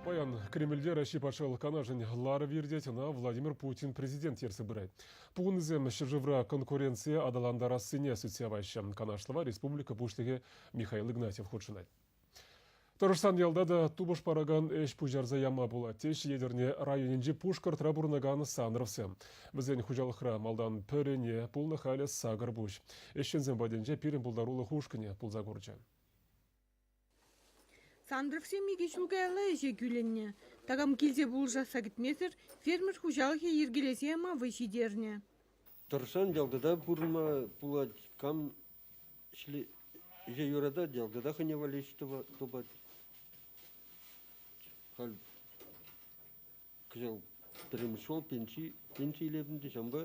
Паян Кремльте Раҫҫей Патшалӑх Канашӗн ларӑвӗ иртет, ӑна Владимир Путин президент ертсе пырать. Пухӑннисем ҫӗршывра конкуренцие аталантарассине сӳтсе яваҫҫӗ. Канашлӑва республика Пуҫлӑхӗ Михаил Игнатьев хутшӑнать. Тӑрӑшсан ялта та тупӑш паракан ӗҫ пуҫарса яма пулать, теҫҫӗ Етӗрне районӗнчи Пушкӑртра пурӑнакан Санровсем. Вӗсен хуҫалӑхра малтан пӗрене пулнӑ, халӗ сакӑр пуҫ. Ӗҫченсем патӗнче пирӗн пултарулӑх ушкӑнӗ пулса курчӗ. Сантӑрӑксем икӗ ҫул каялла ӗҫе кӳлӗннӗ. Такам килсе пулӑшасса кӗтмесӗр фермер хуҫалӑхӗ йӗркелесе яма вӑй ҫитернӗ. Тӑрсан ялтӑта пурӑнма пулать. Кам ӗҫе юратать, ялтӑта хӑйне валеҫ тупать. Халь Кӑҫал пӗрремӗш ҫул пенси, пенси илетӗн те ҫавӑнпа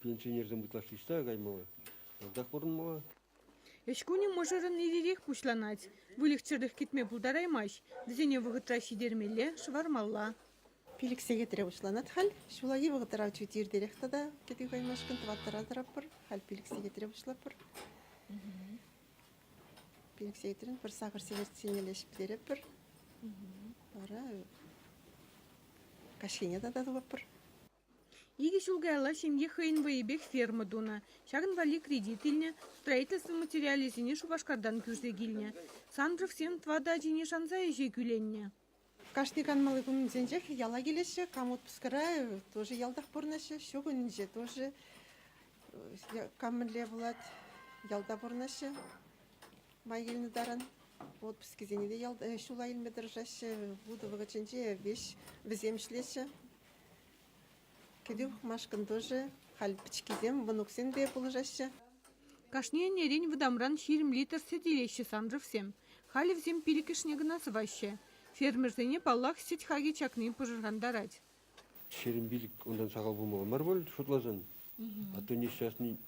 пенсионерсем ытлашши ӑҫта каймалла, ялтах пурӑнмалла. Ӗҫ кунӗ мӑшӑрӑн ир-ирех пуҫланать. Выльӑх-чӗрлӗх кӗтме пултараймасть. Вӗсене вӑхӑтра ҫитермелле, шӑвармалла. Пилӗк сехетре пуҫланать халь. Ҫуллахи вӑхӑтра чуть иртерех тата кӗтӳ каймашкӑн тӑваттӑра тӑратпӑр. Халь пилӗк сехетре пуҫлатпӑр. Пинексейтрен пӗр сахӑр сиверккине леҫ ӗҫлетпӗр. Вара каҫхине тата тупӑпӑр. Икӗ ҫул каялла ҫемье хӑйӗн вӑйӗпех ферма тунӑ. Ҫакӑн валли кредит илнӗ, строительство материалӗсене Шупашкартан кӳрсе килнӗ. Сандровсем тӑватӑ ачине шанса ӗҫе кӳленнӗ. Кашни канмалли кунсенчех яла килеҫҫӗ. Кам отпускра тоже ялтах пурӑнаҫҫӗ. Ҫу кунӗнче тоже кам мӗнле пулать ялта пурӑнаҫҫӗ. Май килнӗ таран отпускӗсене те ялта ҫула илме тӑрӑшаҫҫӗ. Вутӑ вӑхӑтӗнче вӗҫ вӗсем ӗҫлеҫҫӗ. Кӗтӳ пӑхмашкӑн тӑшӑ, халь пӗчӗккисем мӑнуксемпе пулӑшаҫҫӗ. Кашни ӗнерен вӑтамран ҫирӗм литр сӗт илеҫҫӗ Санжовсем. Халӗ вӗсем пилӗкӗшне кӑна сӑваҫҫӗ. Фермерсене, паллах, сӗт хакӗ чакни пӑшӑрхантарать. Ҫирӗм пилӗк унтан сахал пулмалла мар пуль, шутласан. А то несчастный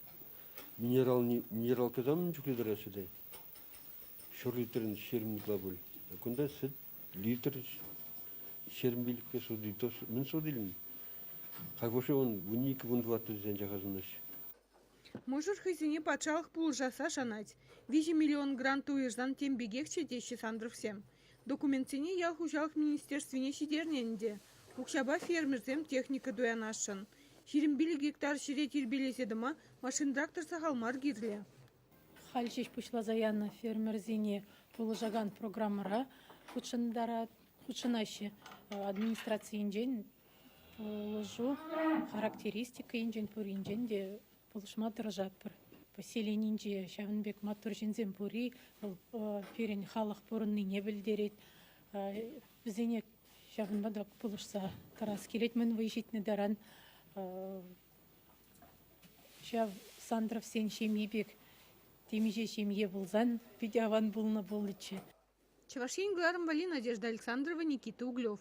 минералне минералка там чухне тӑраҫҫӗ те. Ҫур литрӗн ҫирӗм ытла пуль. Кунта сӗт литр ҫерӗмпелӗкпе шурри мӗн шур илнӗ? Кайфуши он вун икӗ вун тӑваттӑр тесен чакасӑнаҫҫӗ. Мӑшӑр хӑйсене патшалӑх пулӑшасса шанать. Виҫӗ миллион грант уйӑрсан тем пекехчӗ теҫҫӗ Сандровсем. Документсене ял хуҫалӑх министерствине ҫитернӗ ӗнтӗ. Укҫапа фермерсем техника туянасшӑн. Ҫирӗм пилӗк гектар ҫӗре тирпейлесе тӑма машин-трактор сахал мар кирлӗ. Халь ҫеҫ пуҫласа янӑ фермерсене пулӑшакан программӑра хутшӑнаҫҫӗ. Администрацийӗнчен пулӑшу характеристика енчен пуринчен те пулӑшма тӑрӑшатпӑр. Поселенинче ҫавӑн пек маттур ҫынсем пурри вӑл пирӗн халӑх пурӑннине пӗлтерет. Вӗсене ҫавӑнпа та пулӑшса тӑрас килет мӗн вӑй ҫитнӗ таран. Ҫав Сандровсен ҫемйи пек темиҫе ҫемье пулсан питӗ аван пулнӑ пулӗччӗ. Чӑваш Ен кӑларӑм валли Надежда Александрова, Никита Углев.